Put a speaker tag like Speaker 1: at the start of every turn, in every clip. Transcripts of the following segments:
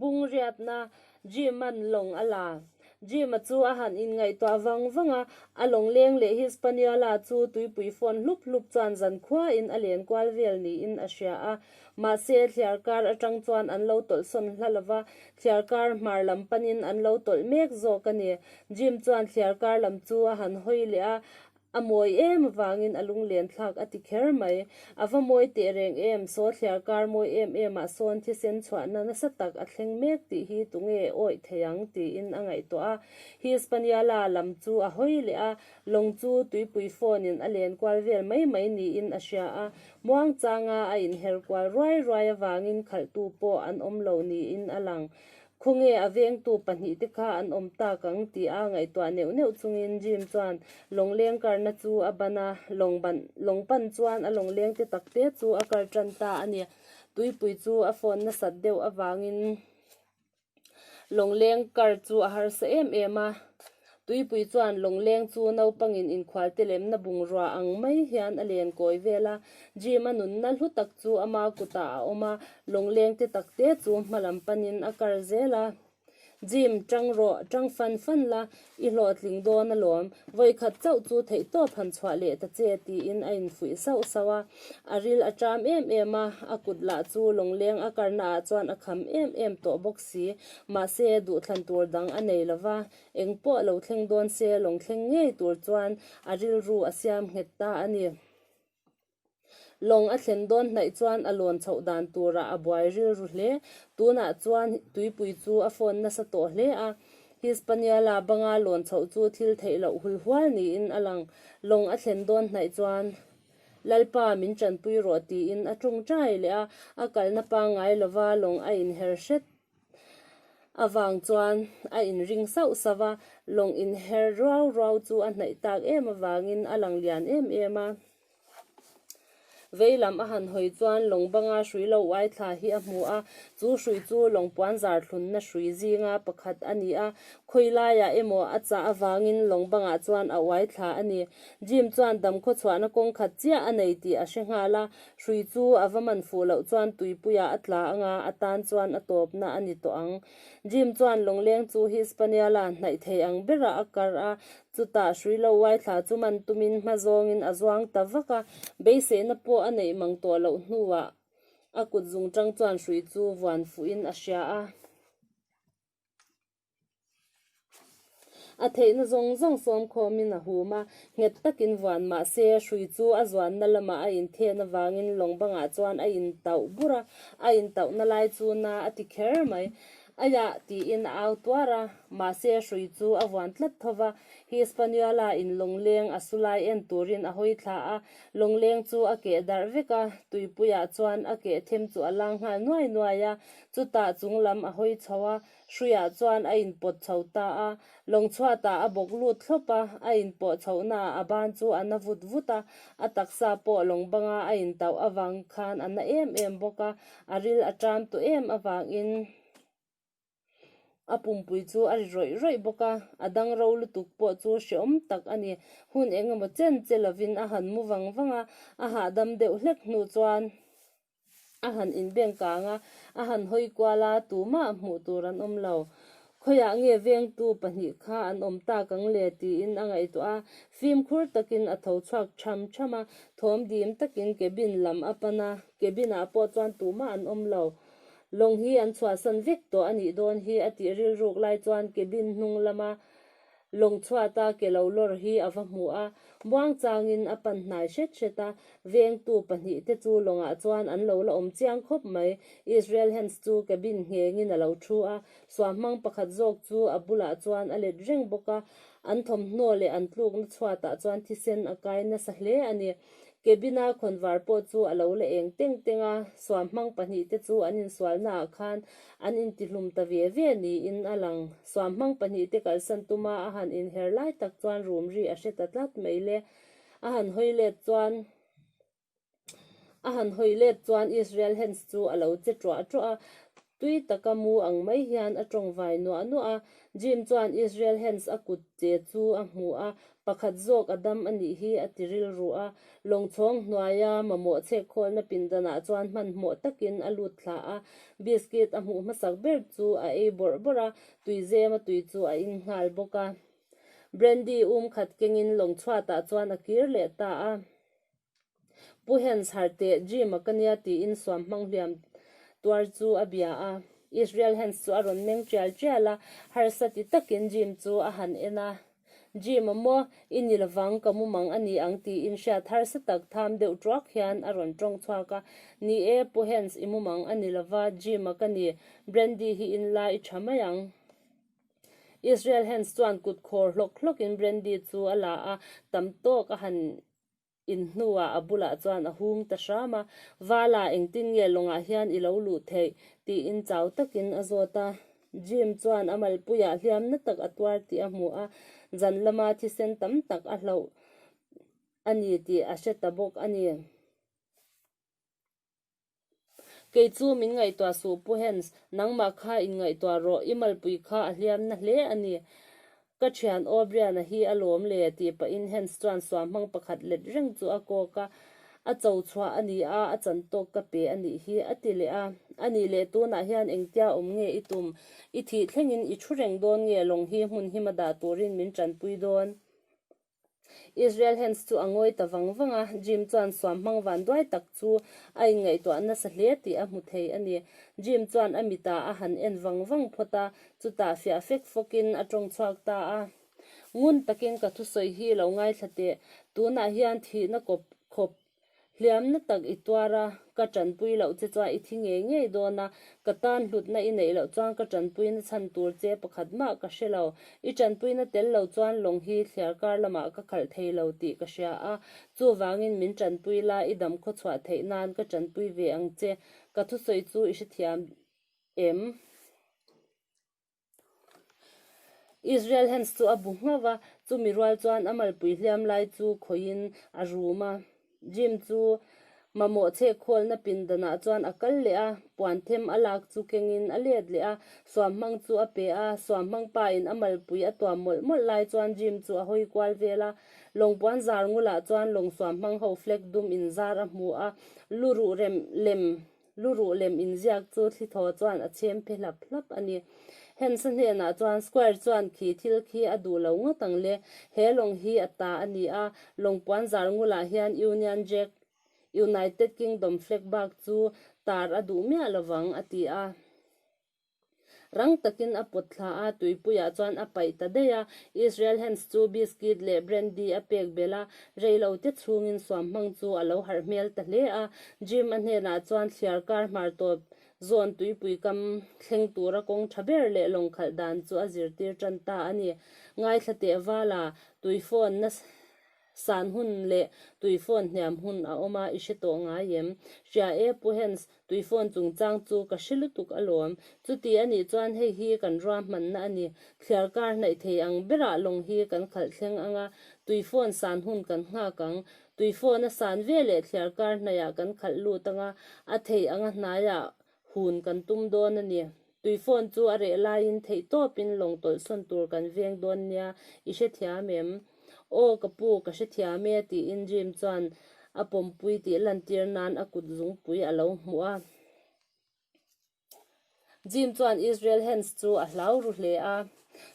Speaker 1: Bungriatna, Jim an lawng a la. Jim a chu a han inngaihtuah vang vang a, a lawng leng leh Hispaniola chu tuipui fawn hlup hlup chuan zan khuain a len kual vel niin a hria a. Mahse, thliar kar atang chuan an lo tawlh sawn hla lova, thliar kar hmar lam panin an lo tawlh mek zawk a ni. Jim chuan thliar kar lam chu a han hawi leh a, A mawi em avangin a lunglentlak a ti kher mai. A va mawi teh reng em? Sawtliar kar mawi em em ah sawn thisen chhuahna nasa tak a thleng mek tih hi tunge e awih theih ang? tiin a ngaihtuah a. Hispaniola lam chu a hawi leh a, lawng chu tuipui phone in a len kual vel mai mai niin a hria a. Muangchanga a inher kual ruai ruai avangin khalhtu pawh an awm lo niin a lang. Khawnge a vengtu pahnih te kha an awm tak ang ti a ngaihtuah neuh neuh chungin Jim chuan lawngleng karna chu a ban a, lawng ban lawng pan chuan a lawngleng te tak te chu a kar tan ta a ni. Tuipui chu a phone nasat deuh avangin lawngleng kar chu a harsa em em a. Tuipui chuan Lawngleng chu naupangin inkhualte lemna bungrua ang mai hian a len kawi vel a. Jim a nunna hlu tak chu ama kutah a awm a, Lawngleng te tak te chu hma lam panin a kar zel a. Jim, ṭang rawh, ṭang fan fan la, i hlawhtling dawn alawm. Vawikhat chauh chu theihtawp han chhuah leh ta che, tiin a infuih sauh sauh a. A ril a ṭam em em a, a kut lah chu Lawngleng a karnaah chuan a kham em em tawh bawk si. Mahse, duhthlan tur dang a nei lo va, eng pawh lo thleng dawn se, lawng thleng ngei tur chuan a rilru a siam nghet ta a ni. Lawng a thlen dawn hnaih chuan a lawn chhoh dan turah a buai rilru hle. Tunah chuan tuipui chu a fawn nasa tawh hle a. Hi Spaniala banga lawn chhoh chu thil theih loh hul hual niin a lang. Lawng a thlen dawn hnaih chuan, Lalpa, min tanpui rawh, tiin a ṭawng ṭai leh a. A kalna pangngai lova lawng a inher hret. Avang chuan a inring sauh sauh a, lawng inher ruau ruau chu a hnaih tak em avangin a lang lian em em a. Veilam a han hawi chuan lawng banga hrui lo uai thla hi a hmu a, chu hrui chu lawng puan zar thlunna hrui zinga pakhat a ni a, khawi laiah emaw a chah avangin lawng bangah chuan a uai thla a ni. Jim chuan damkhawchhuahna kawngkhat chiah a nei tih a hre nghal a, Hrui chu a va man fuh loh chuan tuipuia a tla anga a tan chuan a tawpna a ni tawh ang. Jim chuan lawngleng chu hi spaniala hnaih theih ang berah a kar a, chutah hrui lo uai thla chu man tumin hma zawngin a zuang ta vak a, beiseihna pawh a neih mang tawh loh hnuah a kutzungṭang chuan hrui chu vuan fuhin a hria a. A theihna zawng zawng sawm khawmin a hum a, nghet takin vuan mah se hrui chu a zuanna lamah a inthen avangin lawng bangah chuan a in tauh bur a, a in tauhna lai chu na a ti kher mai. Aia tiin a au tuar a, mahse hrui chu a vuan tlat tho va, hi Spaniala in lawngleng a su lai en turin a hawi thla a, lawngleng chu a keh darh vek a, tuipuiah chuan a keh them chu a lang nghal nuai nuai a, chutah chunglam a hawi chho a, Hruia chuan a inpawt chho ta a, lawng chhuatah a bawk lut thlawp a, a inpawh chhohnaah a ban chu a na vut vut a, a taksa pawh lawng banga a intauh avang khan a na em em bawk a, a ril a ṭam tu em avangin a pumpui chu a ri rawih rawih bawk a, a dang ro lutuk pawh chu hreawm tak a ni. Hun engemaw chen che lovin a han mu vang vang a, a hahdam deuh hlek hnu chuan. a han inbeng kang a, a han hawi kual a, tumah hmuh tur an awm lo. Khawiah nge vengtu pahnih kha an awm tak ang le tiin a ngaihtuah a, fimkhur takin a tho chhuak chham chham a, thawm dim takin cabin lam a pan a, cabin ah pawh chuan tumah an awm lo. Lawng hi an chhuahsan vek tawh a nih dawn hi a tih rilruk lai chuan cabin hnung lama Lawng chhuata ke lo lawr hi a va hmu a, buang changin a pan hnai hret hret a. Vengtu pahnih te chu lawngah chuan an lo la awm chiang khawp mai. Israel Hands chu ke bin nghengin a lo thu a, suah hmang pakhat zawk chu a bulah chuan a let reng bawk a. An thawmhnaw leh an tlukna chhuatah chuan thisen a kai nasa hle a ni. Ke bina khawnvar pawh chu a lo la eng teng teng a, suah hmang pahnih te chu an insualnaah khan an intihlum ta ve ve niin a lang. Suam hmang pahnih te kalsan tum a, a han inher lai tak chuan rum ri a hre ta tlat mai le. A han hawi let chuan a han hawi let chuan Israel Hands chu a lo che ṭuah ṭuah a, tui taka mu ang mai hian a ṭawng vai nuah nuah a. Jim chuan Israel Hands a kut che chu a hmuh a, Pakhat zawk a dam a nih hi a ti rilru a, lawngchhawng hnuaia mamawh chhek khawlna pindanah chuan hmanhmawh takin a lut thlah a, biscuit a hmuh hmasak ber chu a ei bawrh bawrh a, tuizema tui chu a in nghal bawk a. Brandy um khat kengin lawngchhuatah chuan a kir leh ta a. Pu Hien chhar teh gym a ka nia tiin suam hmang hliam tuar chu a bia a. Israel Hens chu a rawn meng tial tial a, harsa ti takin gym chu a han en a. Gym a maw, i ni lovang ka mu mang a ni ang tiin hriat harsa tak tham deuh tuak hian a rawn tawng chhuak a. Ni e, Pu Hens i mu mang a ni lova, gym a ka ni. Brandy hi in la i tha mai ang. Israel Hens chuan kut khawr hlawk hlawkin brandy chu a la a, tam tawk a han in hnuah a bulah chuan a hum ta hram a, Vala, engtin nge lawngah hian i lo luh theih? tiin chau takin a zawt a. Jim chuan a malpuiah hliam na tak a tuar tih a hmuh a, zan lama thisen tam tak a hlauh a ni tih a hre ta bawk a ni. Kei chu min ngaihtuah suh pu Hans, nangmah kha in ngaihtuah rawh, i malpui kha a hliamna hle a ni. Ka thian O'Briana hi a lawm le, tih pahin Hans chuan suam hmang pakhat let reng chu a kawk a, a cho chhuah a ni a, a chan tawk ka pe a nih hi, a ti leh a. A nih leh tunah hian engtia awm nge i tum? I thih thlengin i thu reng dawn nge lawng hi hmun hima dah turin min tanpui dawn? Israel Hands chu a ngawi ta vang vang a, Jim chuan suam hmang van duai tak chu a inngaihtuah nasa hle tih a hmu thei a ni. Jim chuan a mit ah a han en vang vang phawt a, chutah fiah fek fawk in a tawng chhuak ta a. Ngun takin ka thusawi hi lo ngaithla teh, tunah hian thihna kawp khawp Hliamna tak i tuar a, ka tanpui loh che chuan i thi ngei ngei dawn a, ka tan hlutna i neih loh chuan ka tanpuina chhan tur che pakhat mah ka hre lo. I tanpuina tel lo chuan lawng hi thliar kar lamah ka khalh thei lo tih ka hria a, chuvangin min tanpui la, i dam khaw chhuah theih nan ka tanpui ve ang che. Ka thusawi chu i hrethiam em? Israel Hands chu a bu nghauh a, chumi rual chuan a malpui hliam lai chu khawiin a rum a. Jim chu mamawh chhekhawlna pindanah chuan a kal leh a, puan them a lak chu kengin a let leh a, suam hmang chu a pe a. Suam hmang pain a malpui a tuam mawlh mawlh lai chuan Jim chu a hawi kual vel a. Lawng puan zar ngul ah chuan lawng suam hmang ho flag dum in zar a hmu a, lu ruh rem lem Lu ruh lem in ziak chu thli thaw chuan a chhem phe hlap hlap a ni. Hens a hnenah chuan Squire chuan khi thil khi a duh lo ngawt ang le, he lawng hi a ta a ni a, lawng puanzar ngulah hian Union Jack, United Kingdom flag bak chu tar a duh miah lo vang a ti a. Rang takin a put thla a, tuipuiah chuan a paih ta daih a. Israel Hens chu biskit leh brandy a pek belh a, rei lo te chhungin suam hmang chu a lo harh hmel ta hle a. Jim-a hnenah chuan thliar kar hmar tawp zawn tuipui kam thleng tura kawng tha ber leh lawng khalh dan chu a zirtir tan ta a ni. Ngaithla tehvala, tui phone na San hun leh tui phone hniam hun a awm a, i hre tawh ngai em? Hria e, Pu Hens, tui phone chungchang chu ka hre lutuk alawm. Chuti a nih chuan hei hi kan ruahmanna a ni. Thliar kar hnaih thei ang berah lawng hi kan khalh thleng ang a, tui phone san hun kan nghak ang. Tui phone a san ve leh thliar kar hnaihah kan khalh lut ang a, a thei anga hnaiah hun kan tum dawn a ni. Tuifawn chu a reh laiin theih tawpin lawng tawlhsawn tur kan veng dawn nia, i hrethiam em? Aw ka pu ka hrethiam e tiin Jim chuan a pawmpui tih lantir nan a kut zungpui a lo hmuh a. Jim chuan Israel Hands chu a hlau ru hle a.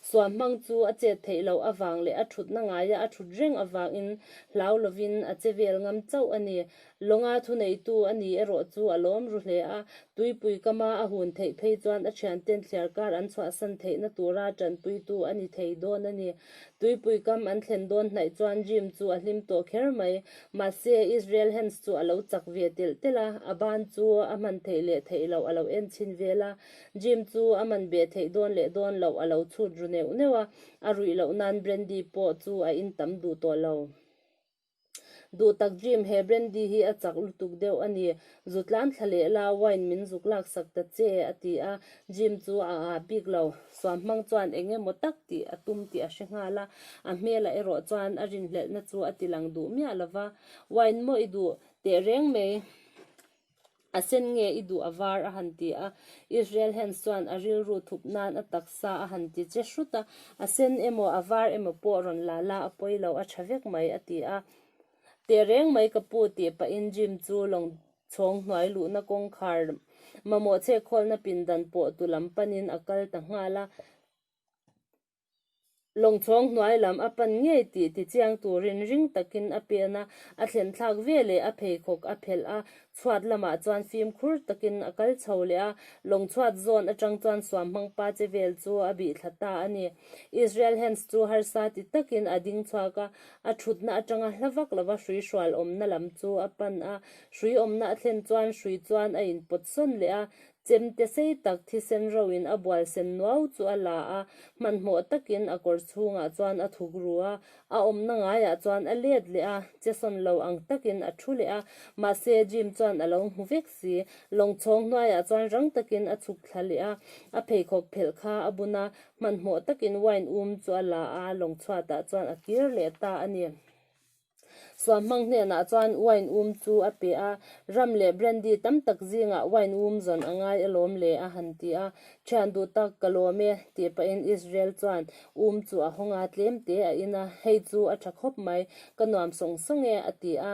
Speaker 1: Suam hmang chu a chet theih loh avang leh a thutna ngaia a thut reng avangin hlau lovin a che vel ngam chauh a ni. Lawnga thuneitu a ni erawh chu a lawm ru hle a. Tuipui kama a hun theih phei chuan a thianten thliar kar an chhuahsan theihna tura tanpuitu a ni thei dawn a ni. Tuipui kam an thlen dawn hnaih chuan rim chu a hlim tawh kher mai. Mahse, Israel Hens chu a lo chak ve telh telh a, a ban chu a hman theih leh theih loh a lo en chhin vel a. Jim chu a man beh theih dawn leh dawn loh a lo chhut ru neuh neuh a, a ruih loh nan Brandy pawh chu a in tam duh tawh lo. Duh tak Jim, he Brandy hi a chak lutuk deuh a ni, zutlam thla leh la, wine min zuk lak sak ta che, a ti a. Jim chu a ah bik lo. Suam hmang chuan eng emaw tak tih a tum tih a hre nghal a, a hmelah erawh chuan a rinhlelhna chu a ti lang duh miah lo va, Wine maw i duh teh reng mai? A sen nge i duh a var? a han ti a. Israel Hands chuan a rilru thup nan a taksa a han ti che hrut a. A sen emaw a var emaw pawh rawn la la a pawi lo, a tha vek mai, a ti a. Teh reng mai ka pu tih pahin Jim chu lawng chhawng hnuai luhna kawngkhar mamawh chhekhawlna pindan pawh tu lam panin a kal ta nghal a. lawngchawng hnuai lam a pan ngei tih ti chiang turin ring takin a pe a na, a thlenhthlak ve leh a pheikhawk a phelh a, chhuat lamah chuan fimkhur takin a kal chho leh a, lawngchhuat zawn atang chuan suam hmang pa che vel chu a bih thla ta a ni. Israel Hands chu harsa ti takin a ding chhuak a, a thutna atanga hla vak lova hrui hrual awmna lam chu a pan a, hrui awmna a thlen chuan hrui chuan a inpawt sawn leh a, Chem te sei tak thisen roin a bual sen nuau chu a la a, hmanhmawh takin a kawr chhungah chuan a thuk ru a, a awmna ngaiah chuan a let leh a, che sawn lo ang takin a thu leh a, mahse Jim chuan a lo hmu vek si. Lawngchhawng hnuaiah chuan rang takin a chhuk thla leh a, a pheikhawk phelh kha a bun a, hmanhmawh takin wine um chu a la a, lawng chhuatah chuan a kir leh ta a ni. Suahmang hnenah chuan wine um chu a pe a, ram leh brandy tam tak zingah wine um zawn a ngai a lawm le a han ti a, Thian duh tak ka lawm e, tih pahin Israel chuan um chu a haw nga tlem te a in a, hei chu a tha khawp mai, ka nuam sawng sawng e a ti a.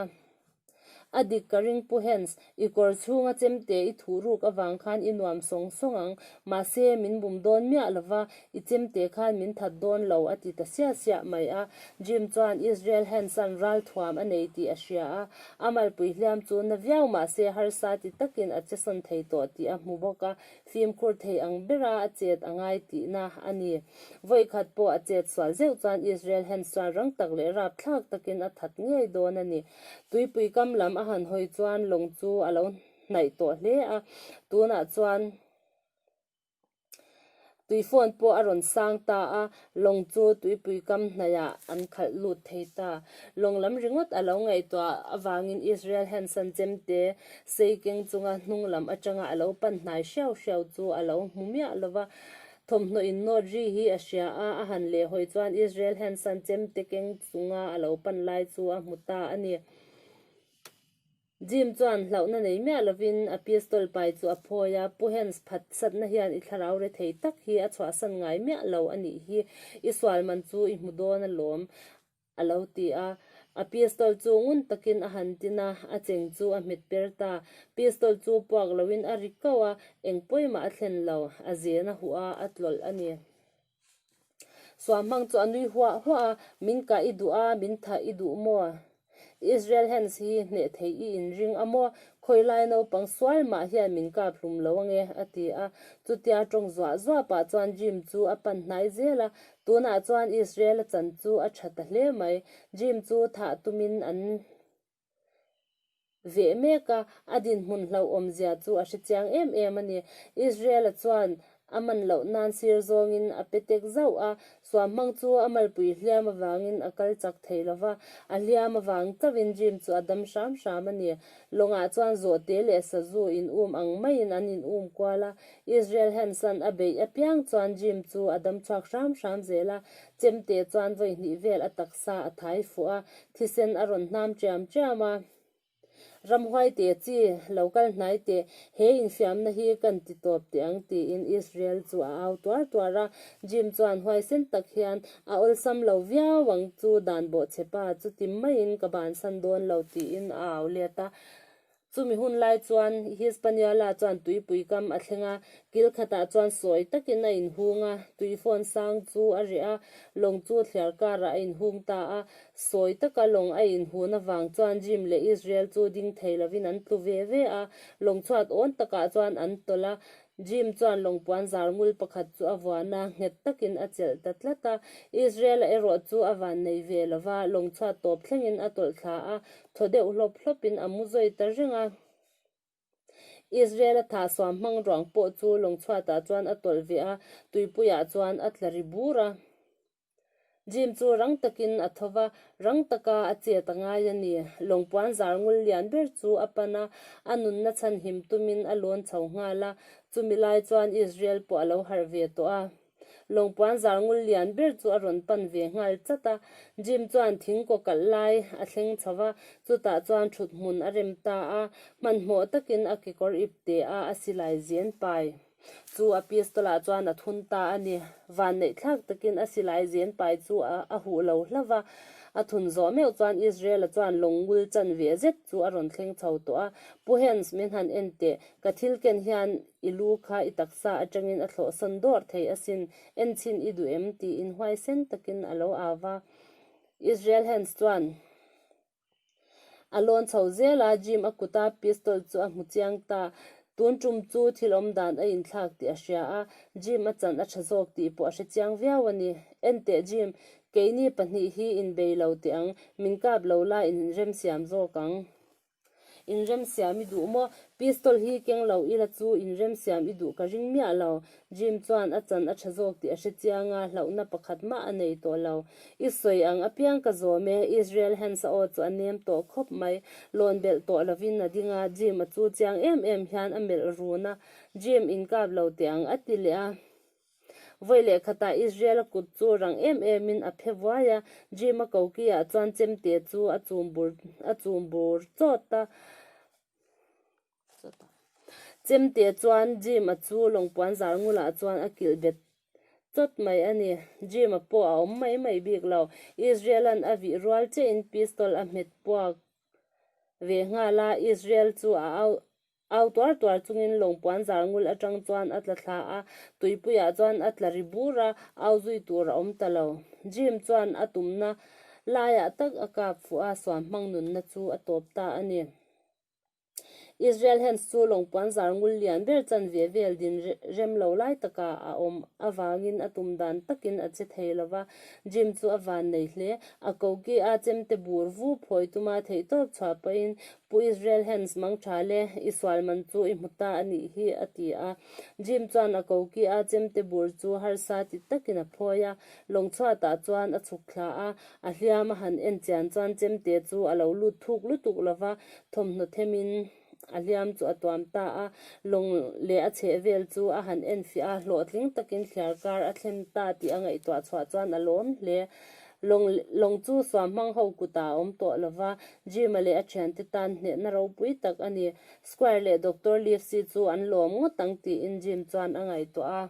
Speaker 1: A dik ka ring pu Hans, I kawr chhunga chem te i thuh ruk avang khan i nuam sawng sawng ang. Mahse, min bum dawn miah lo va, i chem te khan min that dawn lo, a ti ta siah siah mai a. Jim chuan Israel Hanson ral thuam a nei tih a hria a. A malpui hliam chu na viau mah se harsa ti takin a chesawn thei tawh tih a hmu bawk a, fimkhur thei ang bera a chet a ngai tihna a ni. Vawikhat pawh a chet sual zeuh chuan Israel Hanson rang tak leh rap thlak takin a that ngei dawn a ni. Tuipui kam lam a han hawi chuan lawng chu a lo hnaih tawh hle a, tunah chuan tuifawn pawh a rawn sang ta a, lawng chu tuipui kam hnaihah an khalh lut thei ta. Lawng lam ringawt a lo ngaihtuah avangin Israel hian sanchem te sei keng chunga hnunglam atanga a lo pan hnai hriau hriau chu a lo hmu miah lo va. Thawmhnaw in note ri hi a hria a, a han leh hawi chuan Israel hian san chem te keng chunga a lo pan lai chu a hmu ta a ni. Jim chuan hlauhna nei miah lovin a pistol pai chu a phawi a, Pu Hens phat satna hian i thlarau rethei tak hi a chhuahsan ngai miah lo a nih hi i sual man chu i hmu dawn alawm. a lo ti a. A pistol chu ngun takin a han tin a, a cheng chu a hmet per ta. Pistol chu puak loin a ri kauh a, eng pawimah a thlen lo, a zen a huh a, a tlawlh a ni. Suahmang chu a nui huah huah a, Min kah i duh a, min thah i duh maw? Israel Hands hi hneh thei i inring a maw? Khawilai naupang sual mah hian min kap hlum lo ange, a ti a. Chutia tawng zuah zuah pah chuan Jim chu a pan hnai zel a, Tunah chuan Israela chan chu a tha ta hle mai. Dream chu thah tumin an veh mek a, a dinhmun hlauhawmzia chu a hrechiang em em a ni. Israela chuan a man loh nan sir zawngin a pe tek zauh a, suam hmang chu a malpui hliam avangin a kal chak thei lo va, a hliam avang chauhin dream chu a dam hram hram a ni. Lawngah chuan zawhte leh sazu in um ang maiin an in um kual a, Israel Hanson a beih apiang chuan Jim chu a dam chhuak hram hram zel a, Chemte chuan vawihnih vel a taksa a thai fuh a, thisen a rawn hnam ṭiam ṭiam a. Ramhuaite chi lo kal hnai teh, he infiamna hi kan ti tawp teh ang tiin Israel chu a au tuar tuar a. Jim chuan huaisen tak hian, A awlsam lo viau ang chu dan bawhchhe pa, chutim maiin ka bansan dawn lo tiin a au let a. Chumi hun lai chuan Hispania la chuan tuipui kam a thleng a, kil khatah chuan sawi takin a inhung a, tuifawn sang chu a reh a, lawng chu thliar karah a inhung ta a, sawi taka lawng a inhun avang chuan Jim leh Israel chu ding thei lovin an tlu ve ve a, lawng chhuat awn takah chuan an tawlh a, Jim chuan lawngpuan zar ngul pakhat chu a vuana nghet takin a chelh ta tlat a. Israela erawh chu a van nei ve lo va, lawngchhuat tawp thlengin a tawlh thla a, thaw deuh hlawp hlawpin a mu zawi ta reng a. Israela thahsuam hmang ruang pawh chu lawngchhuatah chuan a tawlh ve a, tuipuiah chuan a tla ri bur a. Jim chu rang takin a tho va, rang taka a chet a ngai a ni. Lawngpuan zar ngul lian ber chu a pan a, a nunna chhan him tumin a lawn chho nghal a, chumi lai chuan Israel pawh a lo harh ve tawh a. Lawngpuan zar ngul lian ber chu a rawn pan ve nghal chat a. Jim chuan thing kaw kalh lai a thleng chho va, chutah chuan thuthmun a rem ta a, hmanhmawh takin a kekawr ip te a, a silai zian pai. Chu Apistola chuan a thun ta a ni. Vanneih thlak takin a silai zen pai chu a huh lo hlauh a. A thun zawh meuh chuan Israela chuan lawng ngul chan ve zet chu a rawn thleng chho tawh a. Pu Hens, min han en teh. Ka thil ken hian i lu kha i taksa atangin a thlawhsawn dawr thei asin. En chin i duh em? tiin huaisen takin a lo au a. Israel Hens chuan. A lawn chho zel a, Jim a kut a, pistol chu a hmu chiang ta. Tun tum chu thil awm dan a inthlak tih a hria a, Jim a chan a tha zawk tih pawh a hre chiang viau a ni. Enteh Jim, keini pahnih hi in bei lo teh ang, min kap lo la in remsiam zawk ang. In remsiam i duh maw? Pistol hi keng lo ila chu in remsiam i duh ka ring miah lo. Jim chuan a chan a tha zawk tih a hre chiang a, hlauhna pakhat mah a nei tawh lo. I sawi ang, a piang ka zawm e. Israel Hands a aw chu a nem tawh khawp mai. Lawn belh tawh lovin a ding a, Jim a chu chiang em em hian a melh run a. Jim inkap lo teh ang a ti leh a. Vawi leh khatah Israel a kut chu rang em emin a phe vuai a. Jim a ko ki ah chuan Chemte chu a chum bur a chum bur chawt a. Chem teh chuan Jim a chu lawngpuan zal ngula chuan a kilh bet chawt mai a ni. Jim a pawh a awm mai mai bik lo. Israel-a'n a vih rual che in pistol a hmet puak ve nghal a, Israel chu a au au tuar tuar chung in lawngpuan zal ngul atang chuan a tla thla a, tuipui ah chuan a tla ri bur a, au zui tur a awm ta lo. Jim chuan a tumna lai ah tak a kap fuh a, suan hmang nunna chu a tawp ta a ni. Israel Hams chu lawng puanzar ngul lian ber chanve vel din rem lo lai taka a awm avangin a tum dan takin a che thei lo va, Jim chu a van nei hle. A koki a chemte bur vu phawi tuma theihtawp chhuah pahin, Pu Israel Hams, mangtha le i sual man chu i hmu ta a nih hi, a ti a. Jim chuan a koki a chemte bur chu harsa ti takin a phawi a, lawng chhuatah chuan a chhuk thla a, A hliam a han en chian chuan Chemte chu a lo lut thuk lutuk lo va, thawmhnaw them in a hliam chu a tuam ta a, lawng leh a chheh vel chu a han en fiah a, hlawhtling takin thliar kar a thlen ta tih a ngaihtuah chhuah chuan a lawm hle. Lawng lawng chu suam hmang ho kutah a awm tawh lo va, Jim-a leh a thiante tan hnehna ropui tak a ni. Squire leh Doctor Livesey chu an lawm ngawt ang tiin Jim chuan a ngaihtuah a.